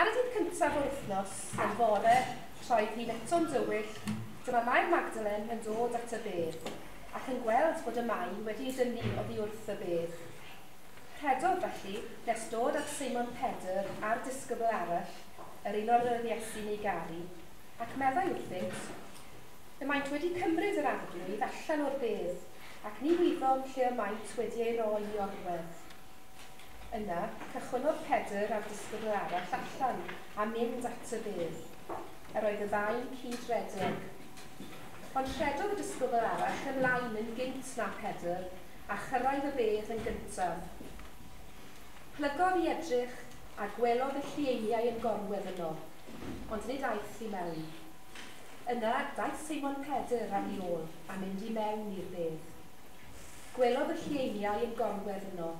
Ar y dydd cyntaf o'r wythnos, y fore, troed hi'n eto'n dywyll, dyma Mair Magdalen yn dod at y bedd, ac yn gweld bod y mai wedi ei dynnu oddi wrth y bedd. Rhedodd felly, nes dod at Simon Pedr a'r disgybl arall, yr un o'r oedd Iesu'n ei garu, ac meddai wrthynt, Y maent wedi cymryd yr arglwydd allan o'r bedd, ac ni wyddom lle y maent wedi ei roi i orwedd. Yna, cychwynnodd Pedr a'r disgybl arall allan a mynd at y bedd. Yr oedd y ddau'n cyd-redeg. Ond rhedodd y disgybl arall ymlaen yn gynt na Pedr, a chyrraedd y bedd yn gyntaf. Plygodd i edrych, a gwelodd y llieiniau yn gorwedd yno, ond nid aeth i mewn. Yna, daeth Seimon Pedr ar ei ôl a mynd i mewn i'r bedd. Gwelodd y lleiniau yn gorwedd yno,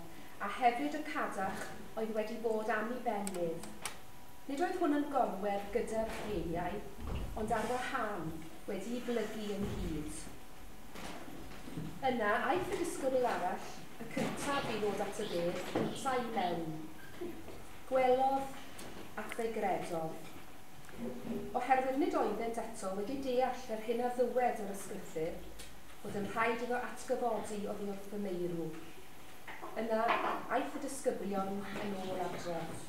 a hefyd y cadarch oedd wedi bod am i ben Liv. Nid oedd hwn yn gorwedd gyda'r lleiniau, ond ar wahân, wedi'i blygu ynghyd. Yna, aeth y disgybl arall, y cyntaf i ddod at y bedd cyntaf i mewn. Gwelodd, ac fe gredodd. Oherwydd nid oeddent eto wedi deall yr hyn a ddywed yr ysgrythyr, fod yn rhaid iddo atgyfodi oddi wrth fy meirw. Yna, aeth y disgyblion yn ôl adref.